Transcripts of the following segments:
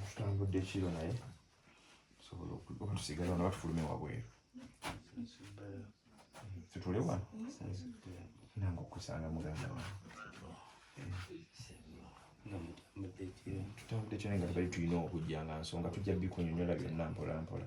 tutambudde kiro naye tusobola okuba tusigala wano batufulume wabweru tutule wano nange okusanga muganda wange tutambudde kiro naye nga tubali tulina okujja nga nsonga tujja bikunyonyola byonna mpolampola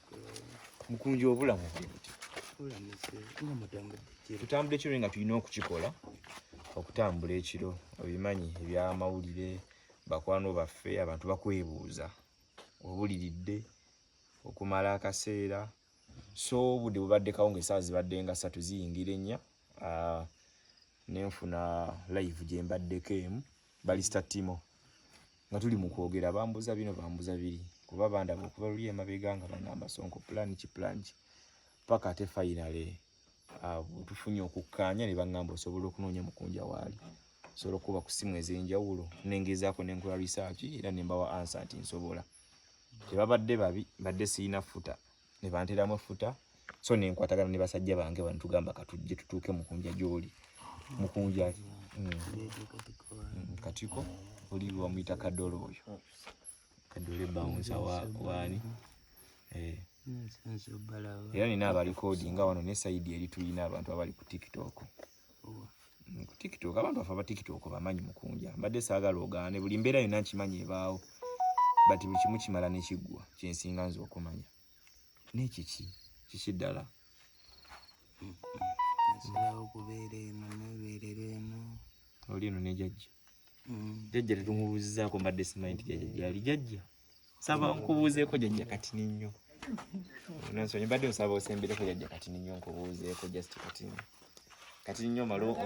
mukunja obulamu tutambula ekiro nga tulina okukikola okutambula ekiro obimanyi ebyamawulire bakwano baffe abantu bakwebuuza obuliridde okumala akaseera so obudde bubadde kawo ngaesaawa zibadde nga satu ziyingira ennya ah, nenfuna live gyembaddeko emu Balista Timo nga tuli mu kwogera bambuza bino bambuza biri kuba bandaba okuva luli emabega nga bangamba sonko plan ki plan ki paka ate finally uh, tufunye okukkaanya ne bangamba osobola okunoonya mukunja waali osobola okuba ku simu ez'enjawulo nengezaako nenkola research era nembawa ansa nti nsobola tebabadde babi mbadde sirina futa ne bantera amafuta so ne nkwatagana ne basajja bange bano tugamba katujje tutuuke mukunja gyoli mukunja mm. mm, katiko oli wamuyita kadolo oyo kadole bawunza waani eh. era nina abalikoodi nga wano ne saidi eri tulina abantu abali ku tiktok ku tiktok abantu afa ba tiktok bamanyi mukunja mbadde saagala ogaane buli mbeera yonna nkimanyi ebaawo bati buli kimu kimala nekiggwa kyensinga nze okumanya naye kiki kiki ddala oli eno nejajja mm. jajja tetumubuuzizaako mbadde simanyi nti jajja gyali jajja saba nkubuuzeeko jajja kati ninyo nonsonyi mbadde nsaba osembireko jajja kati ninyo nkubuuzeeko just kati kati ninyo malo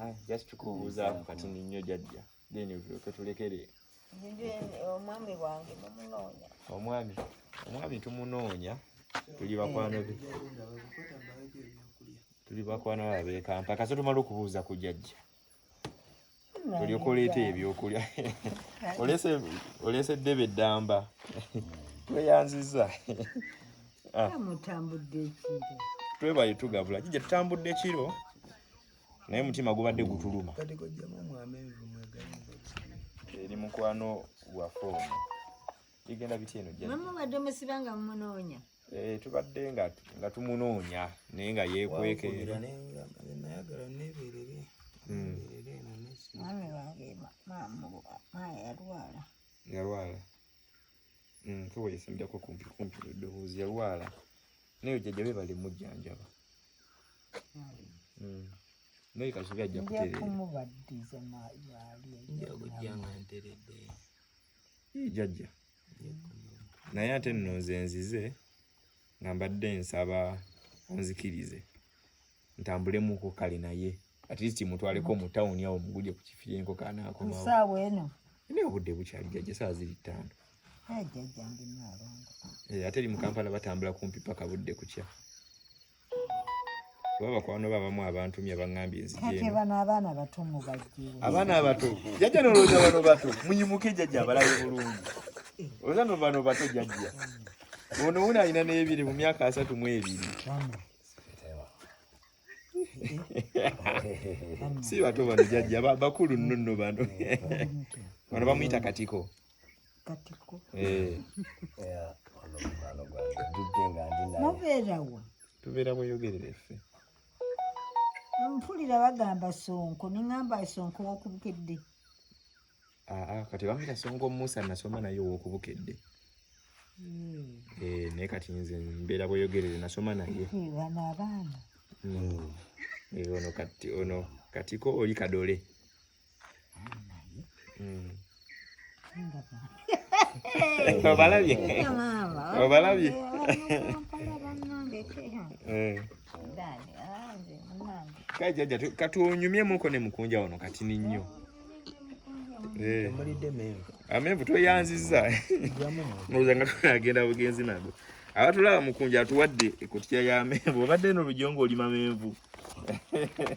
ah, just kubuuzaako kati ninyo jajja then tulyoke tulekere omwami wange mumunoonya omwami omwami tumunoonya tuli bakwano be tuli bakwano babekampa kasotumala okubuuza ku jajja olyoka oleeta ebyokulya oleese eddebe eddamba tweyanziza ah. twebaye tugabula kija tutambudde kiro naye mutima gubadde gutuluma eri mukwano waffe ono bigenda bitya eno jjamubadde musibanga mumunoonya Eh, tubadde nga tumunoonya naye nga yekwekera yalwala keweyesimbirako kumpi kumpi eddoboozi yalwala naye jjajja be bali mujjanjaba hmm. naye kasubi ajja kutereera jjajja naye ate nno nze nzize nga mbadde nsaba onzikirize ntambulemuko kale naye at least mutwaleko mu tawuni awo mugulye ku kifi yenko kanaakomaosaawa eno naye obudde bukyali jajja saa ziri ttaano eh, ate eri mu kampala batambula kumpi paka budde kukya kuba bakwano be abamu abantumye baŋambye nzijebano abaana abato mubajje abaana abato jajja nolowooza bano bato munyimuke jajja abalabe bulungi olowooza no bano bato jajja ono wuno alina n'ebiri mu myaka asatu mu ebiri si bato bano jajja bakulu nnono bano bano bamuyita katiko katiko eh. mubeerawa tubeera bweyogerera effe mpulira bagamba sonko ningamba sonko wokubukedde ah, ah, kati bamuyita sonko musa nasoma naye wokubukedde hmm. eh, naye kati nze mbeera bweyogerere nasoma naye bano abaana hmm. eh, ono kati ono katiko oli kadole obalabye obalabye kajaja katuonyumyemuko ne mukunja wano kati ni nnyo eh. amenvu tweyanziza oza nga tunagenda bugenzi nago abatulaba mukunja atuwadde ekutya ya menvu obadde no lujongo olima menvu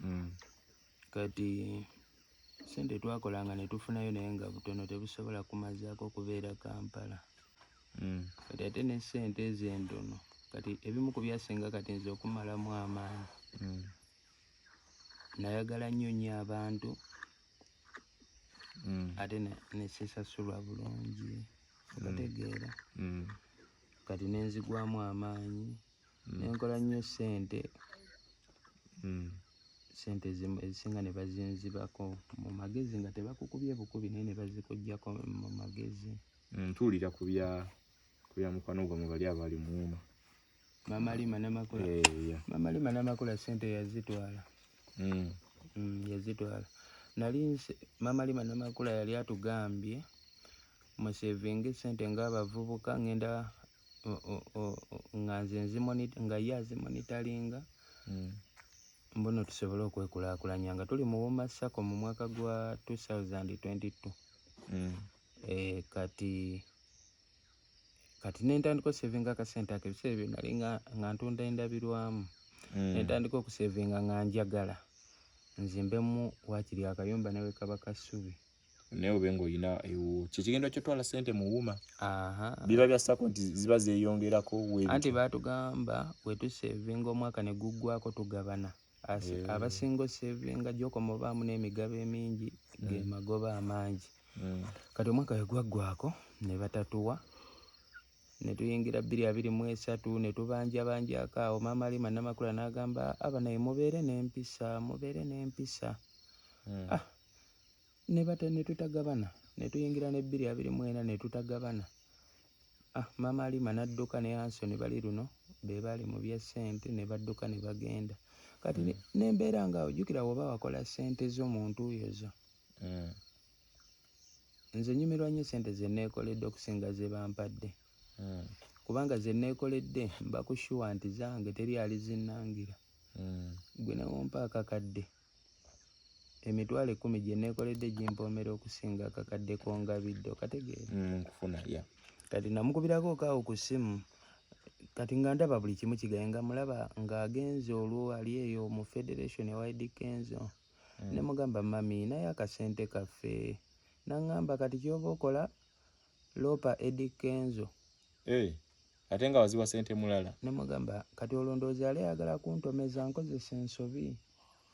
mm. kati sente twakolanga netufunayo naye nga butono tebusobola kumazaako okubeera kampala mm. kati ate ne sente ezo entono kati ebimu ku byasinga kati nze okumalamu amaanyi mm. nayagala nnyo nnyo abantu mm. ate nesisasulwa bulungi mm. otegeera mm. kati nenzigwamu amaanyi nenkola nnyo sente hmm. sente zimu ezisinga ne bazinzibako mu magezi nga tebakukubye bukubi naye ne bazikugyako mu magezi hmm, tuwulira ku bya ku bya mukwano gwa mu bali abali muuma mama lima namakula eh, mama lima namakula sente yazitwala hmm. yazitwala nali mama lima namakula yali atugambye musevinga esente ng'abavubuka ngenda nga nze nga ye azimonitalinga hmm. mbuno tusobole okwekulakulanya nga tuli mu woma sako mu mwaka gwa 2022 hmm. eh, kati kati nentandika osevinga akasente ako ebiseera ebyo nali nga ntunda endabirwamu hmm. nentandika okusevinga nga njagala nzimbemu wakiri akayumba newekaba kasubi naye obe ng'olina ewuwo kyekigenda okyotwala sente mu wuma biba byassako nti ziba zeyongerako anti batugamba wetusevinga omwaka ne guggwako tugabana eh. abasinga osevinga gyokoma obaamu n'emigabo emingi mm. ge magoba amangi mm. kati omwaka wegwaggwako ne batatuwa ne tuyingira bbiri abiri mu esatu ne tubanjabanjako awo maama ali manamakula n'agamba abanaye mubeere n'empisa mubeere n'empisa mm. ah. ne bata ne tutagabana ne tuyingira ne bbiri abiri mu ena ne tutagabana ah, maama alima n'adduka ne ansoni bali luno be baali mu bya ssente ne badduka ne bagenda kati mm. nembeera nga ojjukira woba wakola ssente zo mu ntuuyo zo mm. nze nyumirwa nnyo ssente ze neekoledde okusinga ze bampadde mm. kubanga ze neekoledde mba kushuwa nti zange teri alizinangira mm. gwe newompa akakadde mm. emitwalo ekkumi gye neekoledde gimpoomera okusinga akakadde k'ongabidde okategeera mm, nkufuna ya kati namukubirako okaawo ku ssimu kati nga ndaba buli kimu kigaye nga mulaba ng'agenze olwo ali eyo mu federation ewayidi kenzo mm. ne mugamba mami naye akasente kaffe naŋŋamba kati ky'oba okola loopa edi kenzo hey. Eh. ate nga waziwa sente mulala nemugamba kati olondoozi yali ayagala kuntomeza nkozesa ensobi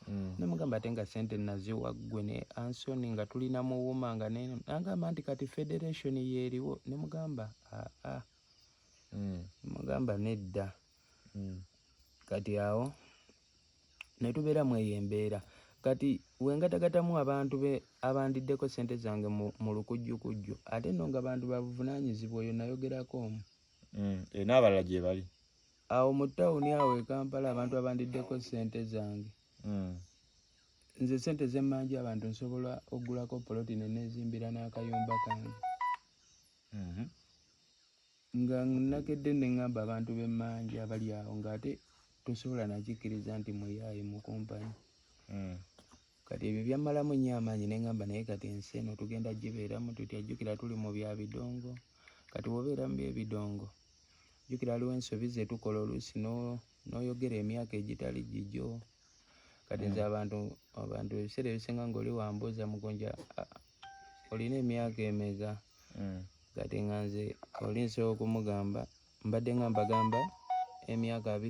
mm. nemugamba ate nga sente naziwa ggwe ne ansoni nga tulina muwuma nga nagamba nti kati federation yeeriwo nemugamba aa ah, ah. mm. mugamba nedda mm. kati awo ne tubeera mu eyo embeera kati wengatagatamu abantu be abandiddeko sente zange mu lukujjukujju ate no nga bantu babuvunaanyizibwa oyo nayogerako omu mm, e, n'abalala gye bali awo mu tawuni awo e kampala abantu abandiddeko sente zange mm. nze sente zemmanja abantu nsobola okugulako poloti nenezimbira n'akayumba kange mm-hmm. Nga nakedde ne ŋŋamba abantu b'e Mmanje abali awo ng'ate tosobola nakikkiriza nti muyaaye mu kumpani. Hmm. Kati ebyo byammalamu nnyo amaanyi ne ŋŋamba naye kati ensi eno tugenda gibeeramu tutya? Jjukira tuli mu bya bidongo. Kati bw'obeera mu by'ebidongo, jjukira waliwo ensobi ze tukola oluusi n'oyogera emyaka egitali gigyo. Kati nze hmm. abantu abantu ebiseera ebisinga ng'oli wambuuza mugonja olina emyaka emeka hmm. kati nga nze oli nsobola okumugamba mbadde nga mbagamba emyaka abiri